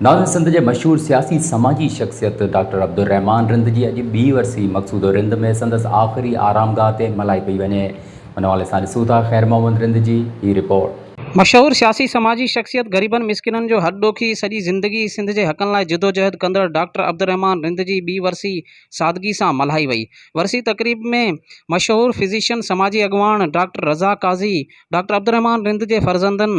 ناظم سنڌ جي مشهور سياسي سماجي شخصيت ڊاڪٽر عبدالرحمان رند جي اڄ ٻي ورسي مقصود رند ۾ سندس آخري آرامگاهه تي ملهائي پئي وڃي ان حوالي سان ڏسون ٿا خير محمد رند جي هي رپورٽ. مشهور سياسي سماجي شخصيت غريبن مسڪينن جو هڏ ڏوکي سڄي زندگي سنڌ جي حقن لاء جدوجهد ڪندڙ ڊاڪٽر عبدالرحمان رند جي ٻي ورسي سادگي سان ملهائي وئي ورسي تقريب ۾ مشهور فزيشن سماجي اڳواڻ ڊاڪٽر رضا قاضي ڊاڪٽر عبدالرحمان رند جي فرزندن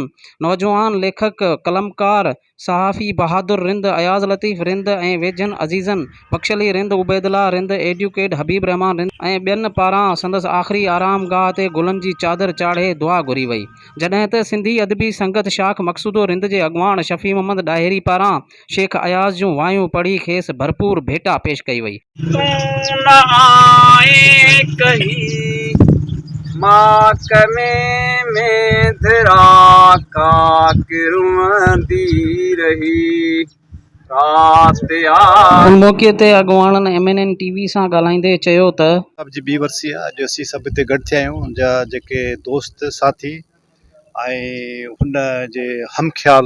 نوجوان ليکڪ قلمڪار صحافي بهادر رند اياز لطيف رند ۽ ويجهن عزيزن بخش علي رند عبيد الله رند ايڊوڪيٽ حبيب الرحمان رند ۽ ٻين پاران سندس آخري آرام گاهه تي گلن جي چادر چاڙهي دعا گهري وئي جڏهن ته سنڌي ادبي سنگت شاخ مقصودو رند جي اڳواڻ شفيع محمد ڏاهري پاران شيخ اياز جون وايون پڙهي کيس ڀرپور ڀيٽا پيش ڪئي وئي. تون نه آئين ڪهي ماڪمي ۾ ڌرا ڪاڪ روئندي رهي رات آ. ان موقعي تي اڳواڻن M N N T V سان ڳالهائيندي چيو ته. صاحب جي ٻي ورسي آ اڄ اسين سڀ هتي گڏ ٿيا آهيون جا جيڪي دوست ساٿي ۽ هن جي همخيال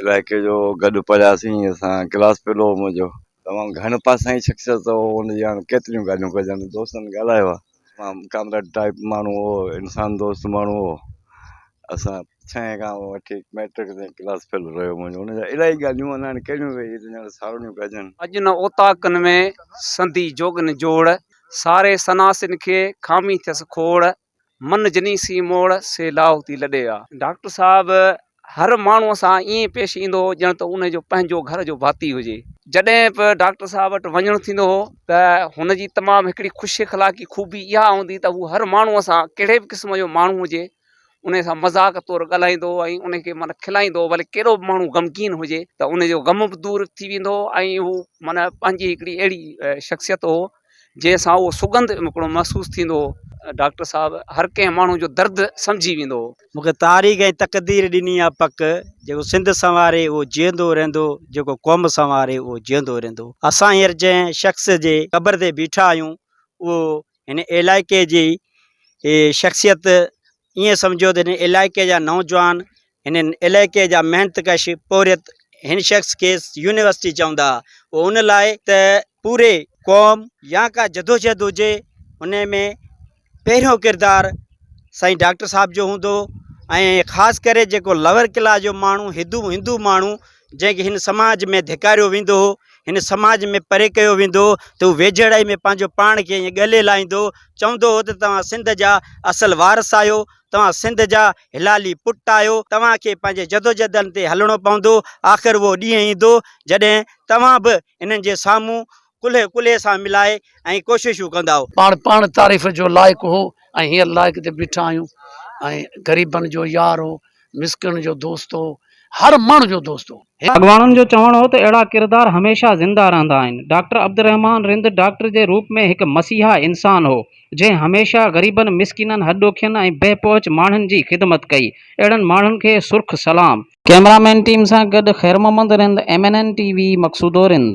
علائقي جو گڏ پڙهياسين اسان ڪلاس پهريون هو منهنجو تمام گهڻ پاسائين شخصيت هو ان جي هاڻي ڪيتريون ڳالهيون ڪجن دوستن ڳالهايو آهي تمام ڪامريڊ ٽائپ ماڻهو هو انسان دوست ماڻهو هو اسان ڇهين کان وٺي ميٽرڪ تائين ڪلاس فيلو رهيو منهنجو ان جا الاهي ڳالهيون انا هاڻي ڪهڙيون ويهي هتي ڄڻ ساروڻيون ڪجن اڄ نه اوطاقن ۾ سندي جوڳن جوڙ ساري سناسين کي خامي ٿيس کوڙ من جني سين موڙ سي لاهو ٿي لڏي آ. ڊاڪٽر صاحب هر ماڻهو سان ائين پيش ايندو هو ڄڻ ته ان جو پنهنجو گهر جو ڀاتي هجي. جڏهن به ڊاڪٽر صاحب وٽ وڃڻ ٿيندو هو ته هن جي تمام هڪڙي خوش اخلاقي خوبي اها هوندي ته هو هر ماڻهو سان ڪهڙي به قسم جو ماڻهو هجي ان سان مذاق طور ڳالهائيندو هو ۽ ان کي معنيٰ کلائيندو هو ڀلي ڪهڙو به ماڻهو غمگين هجي ته ان جو غم به دور ٿي ويندو هو ۽ هو معنيٰ پنهنجي هڪڙي اهڙي شخصيت هو جنهن سان اهو سگنڌ هڪڙو محسوس ٿيندو هو. ڊاڪٽر صاحب هر ڪنهن ماڻهو جو درد سمجهي ويندو هو. مون کي تاريخ ۽ تقدير ڏني آ پڪ، جيڪو سنڌ سنواري اهو جيئندو رهندو، جيڪو قوم سنواري اهو جيئندو رهندو. اسان هينئر جنهن شخص جي قبر تي بيٺا آهيون، اهو هن علائقي جي شخصيت، ائين سمجهو ته هن علائقي جا نوجوان هن علائقي جا محنت ڪش پورهيت هن شخص کيس يونيورسٽي چوندا ها اهو ان لاء ته پوري قوم يا ڪا جدوجهد هجي ان ۾ پهريون ڪردار سائين ڊاڪٽر صاحب جو هوندو هو ۽ خاص ڪري جيڪو لوئر ڪلاس جو ماڻهو هندو هندو ماڻهو جنهن کي هن سماج ۾ ڌڪاريو ويندو هو هن سماج ۾ پري ڪيو ويندو هو ته هو ويجهڙائي ۾ پنهنجو پاڻ کي ائين ڳلي لائيندو چوندو هو ته توهان سنڌ جا اصل وارث آهيو توهان سنڌ جا هلالي پٽ آهيو، توهان کي پنهنجي جدوجهدن تي هلڻو پوندو، آخر اهو ڏينهن ايندو جڏهن توهان به هنن جي سامهون ڪلهي ڪلهي سان ملائي ۽ ڪوششون ڪندائو. پاڻ پاڻ تعريف جو لائق هو ۽ هينئر لائق تي بيٺا آهيون ۽ غريبن جو يار هو مسڪين جو دوست هو. هر ماڻهو جو دوست هو. اڳواڻن جو چوڻ هو ته اهڙا ڪردار هميشه زنده رهندا آهن. ڊاڪٽر عبدالرحمان رند ڊاڪٽر جي روپ ۾ هڪ مسيحا انسان هو، جنهن هميشه غريبن، مسڪينن، هڏ ڏوکين ۽ بي پهچ ماڻهن جي خدمت ڪئي. اهڙن ماڻهن کي سرخ سلام. ڪيمرا مين ٽيم سان گڏ Khair Muhammad Rind, M N N T V, Maqsoodo Rind.